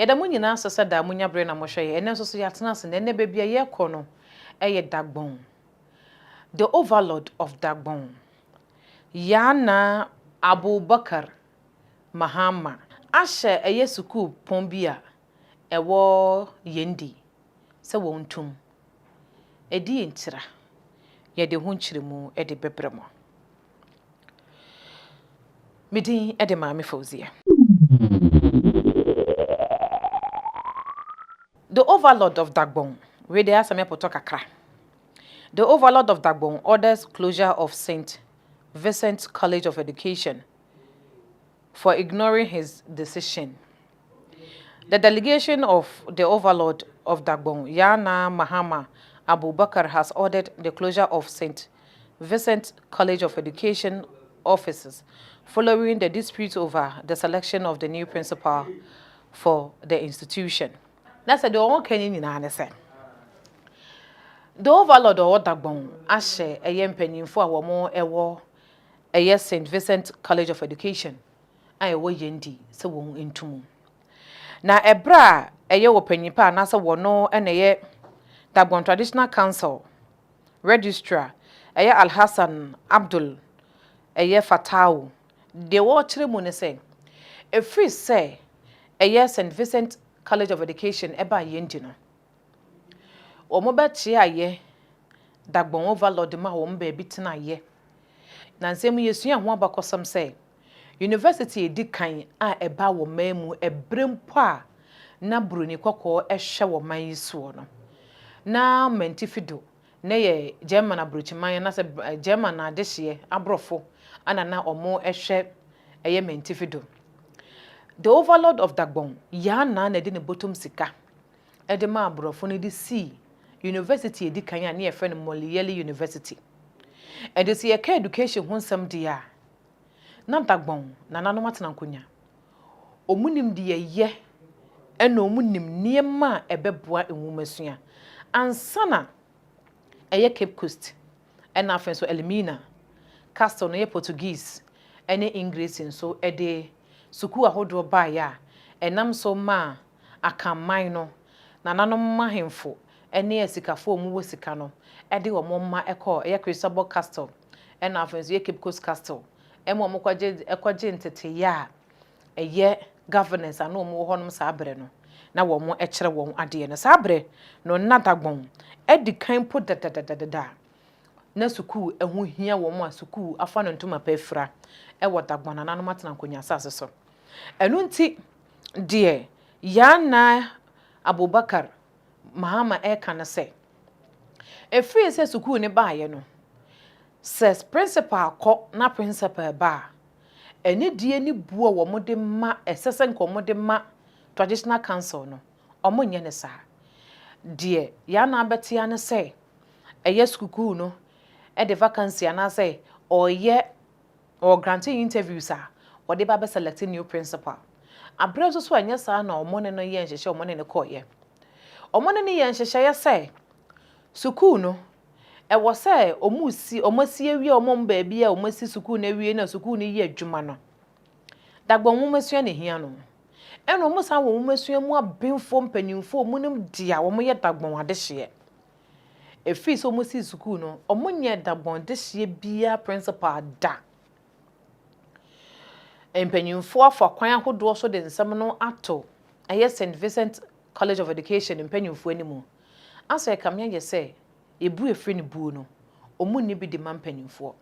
Yɛda mo nyinaa ase sɛ daa monya bere na mohwɛ yɛn. Ɛnnɛ nso so yɛatena ase, na ɛnnɛ baabi a yɛrekɔ no yɛ Dagbon, the overlord of Dagbon, Yaa Naa Abubakar Mahama. Ahyɛ ɛyɛ sukuu pɔn bi a ɛwɔ Yendi sɛ wɔn ntum. Ɛdeɛ ntira? Yɛde ho nkyerɛmu de bɛbrɛ mo. Me din de Maame Fauziya. The Overlord of Dagbon Wei deɛ ayɛ sɛ mɛpotɔ kakra The Overlord of Dagbon orders closure of St. Vincent College of Education for ignoring his decision. The delegation of the Overlord of Dagbon, Yana Mahama Abubakar has ordered the closure of Saint Vincent College of Education offices following the dispute over the selection of the new principal for the institution. Na sɛ deɛ wɔka ne nyinaa ne sɛ, the overlord ɔwɔ Dagbon ahyɛ ɛyɛ mpanyinfoɔ a wɔn ɛwɔ Ɛyɛ Saint Vincent College of Education a ɛwɔ Yendi sɛ wɔn ntu mu. Na ɛberɛ a ɛyɛ ɔpanyin pa anaasɛ wɔno na ɛyɛ Dagbon Traditional Council Registrar ɛyɛ Alhassan Abdul ɛyɛ Fatawu. Deɛ wɔkyerɛ mu ne sɛ, ɛfiri sɛ ɛyɛ Saint Vincent College of Education ɛbaa Yendi no, Wɔn bɛkyeayɛ da gbɔn overload de ma wɔn baabi tenayɛ. Na nsɛm yi yɛsua ho abakɔsɛm sɛ University a ɛdi kan a ɛbaa wɔ man mu ɛberɛ mpo a na Buroni kɔkɔɔ hwɛ wɔ man yi soɔ no na mantifi do na ɛyɛ German abrokyiman anaasɛ German adehyeɛ aborɔfo ana na wɔn hwɛ ɛyɛ mantifi do. The overload of Dagbon, Yaa Naa na ɛde ne bɔtɔm sika de maa aborɔfo no de sii yunivɛsiti a edi kan a na yɛfrɛ no Moliere University. Ɛnde sɛ yɛka education ho nsɛm deɛ a, na Dagbon nananom atena nkonya. Wɔn nim deɛ ɛyɛ ɛna wɔn nim nneɛma a ɛbɛboa nwomasua. Ansa na ɛyɛ Cape Coast ɛna afei nso Elmina, Castle no yɛ Portuguese ne Engiresi nso de sukuu ahodoɔ baeɛ a ɛnam so maa Akanman no, nananom ahemfo ne asikafo a wɔwɔ sika no de wɔn mma kɔɔ ɛyɛ Cristobal Castle ɛna afei nso ɛyɛ Cape Coast Castle ɛma wɔkɔgye kɔgye nteteeɛ a ɛyɛ governance a na wɔn wɔ hɔnom saa berɛ no na wɔkyerɛ wɔn adeɛ no. Saa berɛ no na Dagbon adi kan mpo dadadadada a na sukuu ho hia wɔn a sukuu afa no ntoma pa afira wɔ Dagbon nananom atena nkonnwa asase so. Ɛno nti deɛ Yaa Naa Abubakar Mahama reka ne sɛ, ɛfiri sɛ sukuu no baeɛ no, sɛ prensipal kɔ na prensipal ba a, anidie ne buo a wɔde ma, ɛsɛ sɛ nka wɔde ma Traditional Council no, wɔnyɛ no saa. Deɛ Yaa Naa bɛtea ne sɛ, ɛyɛ sukuu no de vacancy anaasɛ ɔreyɛ Wɔ granting interviews a wɔde ba bɛ select new principal aberɛ nso so a ɛnyɛ saa na wɔne no yɛ nhyehyɛ wɔne no kɔeɛ. Wɔne no yɛɛ nhyehyɛeɛ sɛ sukuu no ɛwɔ sɛ wɔsi wɔn asi awie a wɔn baabi a wɔn asi sukuu no awie no a sukuu no yɛ adwuma no dagbɔn nwomasua na ɛhia no ɛna wɔn san wɔ nwomasua mu abenfoɔ mpaninfoɔ a wɔnim dea wɔyɛ dagbɔn adehyeɛ. Efii sɛ ɔmo sii sukuu no ɔmo nyɛɛ dabɔn dehyeɛ biaa prensipal da. Mpanyinfoɔ afa kwan ahodoɔ so de nsɛm no ato ɛyɛ Saint Vincent College of Education mpanyinfoɔ animu. Asɛ ɛkame ayɛ sɛ ebu efiri ne buo no ɔmo nni bi de ma mpanyinfoɔ.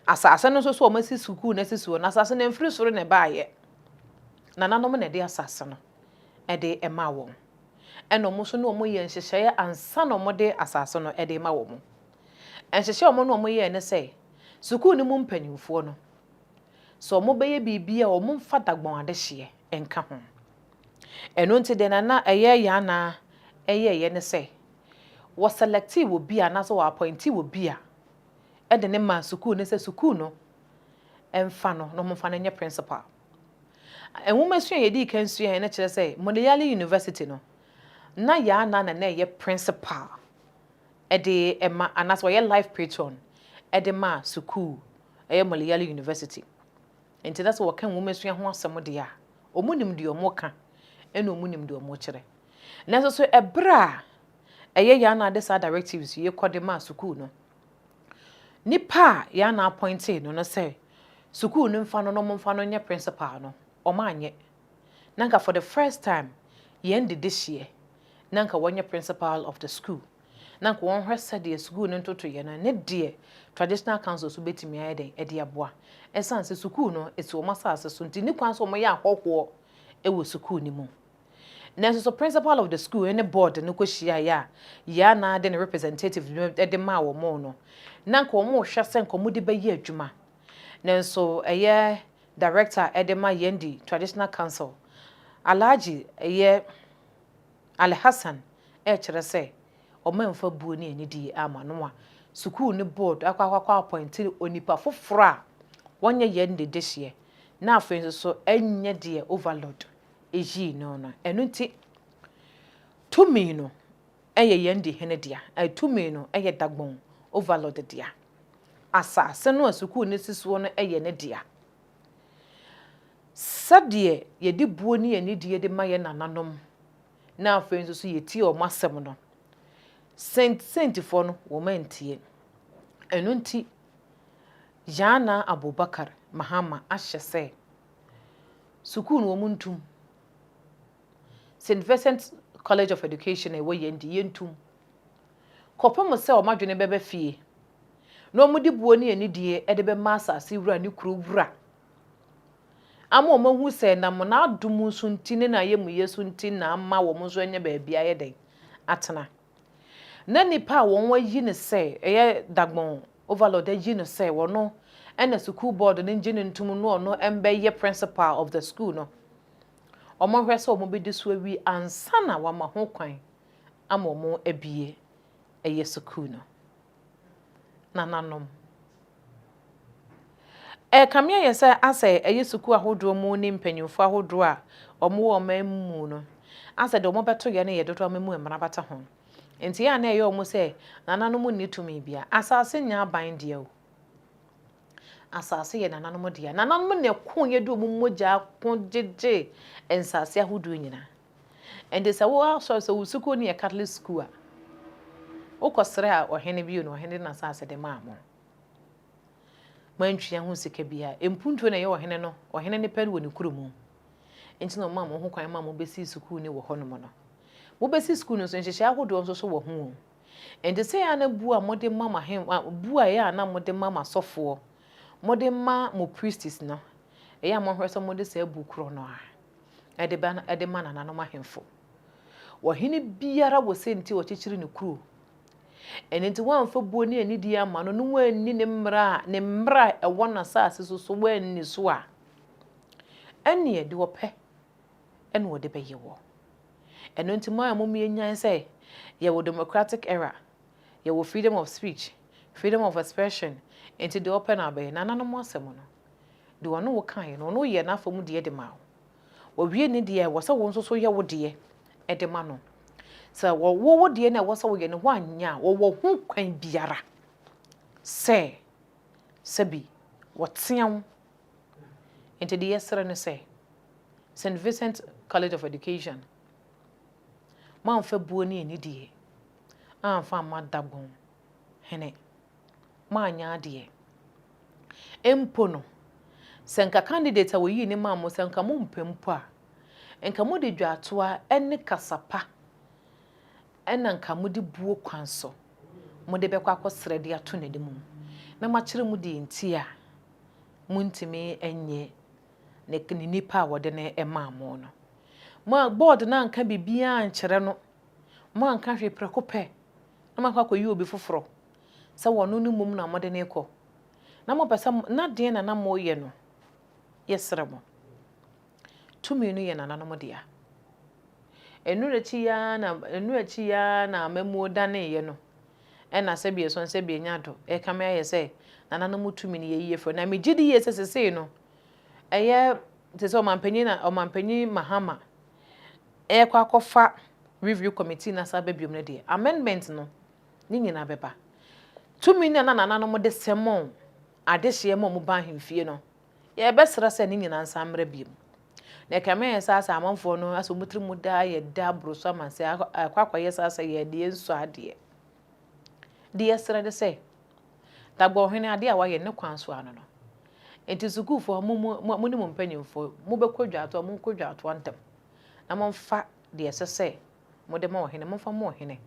Asase no nso so wɔasi sukuu no asi soɔ, na asase no ɛmfiri soro na ɛbaeɛ. Nananom na ɛde asase no de maa wɔn, ɛna wɔn nso ne wɔn yɛɛ nhyehyɛeɛ ansa na wɔde asase no de rema wɔn. Nhyehyɛeɛ a wɔn ne wɔn yɛɛ ne sɛ, sukuu no mu mpanimfoɔ no, sɛ wɔbɛyɛ biribi a wɔmfa dagbɔn adehyeɛ nka ho. Ɛno nti deɛ na na ɛyɛ Yaa Naa yɛeɛ ne sɛ, wɔsɛlɛktee obi a anaasɛ wɔapɔintee obi a de no ma sukuu no sɛ sukuu no mfa no na wɔmfa no nyɛ principal. Nwomasua a yɛdii kan suaeɛ no kyerɛ sɛ Montreal University no, na Yaa Naa na na ɛyɛ principal de ma anaasɛ ɔyɛ life patron de ma sukuu ɛyɛ Montreal University. Nti na sɛ wɔka nwomasua ho asɛm deɛ a, wɔnim deɛ wɔka ɛna wɔnim deɛ wɔkyerɛ. Nanso so ɛberɛ a ɛyɛ yɛn na de saa directives yi kɔ de ma sukuu no. Nipa a yɛn na appointee no no sɛ sukuu no mfa no na wɔmfa no nyɛ principal no, wɔanyɛ. Na anka for the first time yɛn dedehyeɛ na anka wɔnyɛ principal of the school. Na anka wɔnhwɛ sɛdeɛ sukuu no ntotoeɛ no ne deɛ traditional council so bɛtumi ayɛ dɛn ɛde aboa. Ɛsiane sɛ sukuu no ɛsi wɔn asase so nti ne kwan sɛ wɔyɛ ahɔhoɔ ɛwɔ sukuu no mu. Nanso so principal of the school ne board no kohyiae a Yaa Naa de ne representatives no de maa wɔn no, na anka wɔrehwɛ sɛ anka wɔde bɛyɛ adwuma. Nanso ɛyɛ director a ɛde ma Yendi Traditional Council, Alhaji ɛyɛ Ali Hassan rekyerɛ sɛ wɔamfa buo ne anidie amma no a sukuu no board akɔ akɔ akɔ appointe onipa foforɔ a wɔnyɛ Yendi dehyeɛ na afei nso so ɛnyɛ deɛ overlord yii no no. Ɛno nti, tumi no yɛ yɛn de hene dea. Tumi no yɛ Dagbon Overlord dea. Asase no a sukuu no si soɔ no yɛ ne dea. Sɛdeɛ yɛde buo ne anidie de ma yɛn nananom na afei nso so yɛtie wɔn asɛm no, Saint Saintfoɔ no, wɔn antie. Ɛno nti, Yaana Abubakar Mahama ahyɛ sɛ Sukuu no wɔn ntum. Saint Vincent College of Education a ɛwɔ Yendi, yɛntum. Kɔpem sɛ wɔn adwene bɛba fie, na wɔde buo ne anidie de bɛma asase wura ne kuro wura, ama wɔn ahu sɛ nam N'adom so nti ne N'ayɛmuyɛ so nti na ama wɔn nso anya baabi ayɛ dɛn? Atena. Na nnipa a wɔn ayi no sɛ ɛyɛ Dagbon Overlord ayi no sɛ ɔno na sukuu board no ngye no ntom no ɔno mbɛ yɛ principal of the school no ɔmo nhwɛ sɛ ɔmo bɛdi so awie ansa na wama ho kwan ama ɔmo abue ɛyɛ sukuu no. nananom. Ɛrekame ayɛ sɛ asɛ ɛyɛ sukuu ahodoɔ mu ne mpanyinfoɔ ahodoɔ a wɔn wɔ ɔman mu mu no asɛ deɛ wɔn bɛto yɛ no yɛ dodoɔ ama mu mmara bata ho. Nti yɛ a na ɛyɛ wɔn sɛ nananom nni tumi bia. Asase nyɛ aban dea o. Asase yɛ nananom dea. Nananom na ɛko yɛ de wɔn mogyaa ko gyegye nsase ahodoɔ nyinaa. Ɛnti sɛ wo asɔre, sɛ wo sukuu no yɛ Catholic sukuu a, wokɔ srɛ a ɔhene bio no, ɔhene de n'asaase de maa mo. Moantua ho sika biara. Mpuntuo na ɛyɛ ɔhene no, ɔhene no pɛ no wɔ ne kuro mu. Nti na ɔmaa mo ho kwan ma mo bɛsii sukuu no wɔ hɔnom no. Mobɛsi sukuu no nso, nhyehyɛe ahodoɔ nso so wɔ ho o. Ɛnti sɛ ɛyɛ a na bu a mode ma mo ahen, bu a ɛyɛ a na mode ma mo asɔfoɔ, mode ma mo priests no, ɛyɛ a monhwɛ sɛ mode saa bu korɔ no ara. de ba no de ma nananom ahemfo. Ɔhene biara wɔ sɛnti a ɔkyekyere ne kuro. Ɛno nti woamfa buo ne anidie amma no na woanni ne mmara a ne mmara a ɛwɔ n'asase so so woanni so a, ɛnneɛ deɛ ɔpɛ na ɔde bɛyɛ woɔ. Ɛno nti mo a mo mmea nyan sɛ yɛwɔ democratic era, yɛwɔ freedom of speech, freedom of expression, nti deɛ ɔpɛ na ɔbɛyɛ. Nananom asɛm no, Deɛ ɔne wo kaeɛ no, ɔno yɛɛ n'afa mu deɛ de maa wo. Ɔwie ne deɛ a, ɛwɔ sɛ wo nso so yɛ wo deɛ de ma no. Sɛ wɔwɔ wo deɛ na ɛwɔ sɛ woyɛ no woanyɛ a, wɔwɔ ho kwan biara sɛ sɛbi wɔtea wo. Nti deɛ yɛsrɛ ne sɛ, St. Vincent College of Education, moamfa buo ne anidie amfa amma Dagbon hene, moanyɛ adeɛ. Mpo no, sɛ nka candidate a wɔyii no maa mo, sɛ nka mompɛ mpo a, nka mode dwaatoa ne kasa pa na nka mode buo kwan so mode bɛkɔ akɔsrɛ de ato n'anim, na moakyerɛ mu deɛ nti a montumi nyɛ ne nipa a wɔde no maa mo no. Board no anka biribiara ankyerɛ no Moanka hwee prɛko pɛ na moakɔ akɔyi obi foforɔ sɛ wɔ no no mmom na mode no rekɔ. Na mopɛ sɛ mo, na deɛn na na moreyɛ no? Yɛsrɛ mo, tumi no yɛ nananom dea. Ɛno akyi yi ara na, ɛno akyi yi ara na amammuo daneeɛ no, ɛna sɛbi ɛso na sɛbi ɛnya do rekame ayɛ sɛ nananom tumi no yɛyi afiri hɔ. Na megye di yie sɛ sesei no, ɛyɛ te sɛ Ɔmanpanin na, Ɔmanpanin Mahama, ɛrekɔ akɔfa Review Committee no asan aba biom no deɛ, amendment no, ne nyinaa bɛba. Tumi no a na nananom de sɛ mo adehyeɛ ma wɔn ba ahemfie no, yɛrebɛsrɛ sɛ ne nyinaa nsan mmra biom. Na ɛkame ayɛ sɛ asɛ amanfoɔ no asɛ wɔn tiri mu daa yɛ dɛ aboro so ama sɛ akɔ akɔyɛ saa sɛ yɛn deɛ ɛnsɔ adeɛ. Deɛ yɛsrɛ ne sɛ, Dagbon Hene adeɛ a wayɛ ne kwan so ano no. Enti sukuufoɔ mo mu mo ne mo mpanimfoɔ mobɛkɔ dwatoɔ a monkɔ dwatoɔ ntɛm na momfa deɛ ɛsɛ sɛ mode ma ɔhene momfa ma ɔhene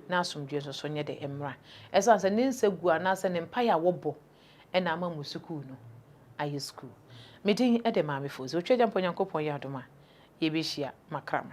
na asomdwoeɛ nso so nyɛ dɛ mmra. Ɛsiane sɛ ne nsaguo anaasɛ ne mpaeɛ a wɔbɔ na ama mo sukuu no ayɛ sukuu. Me din de Maame Fosu. Otwa Agyampa Onyankopɔn yɛ adom a yɛbɛhyia. Makram.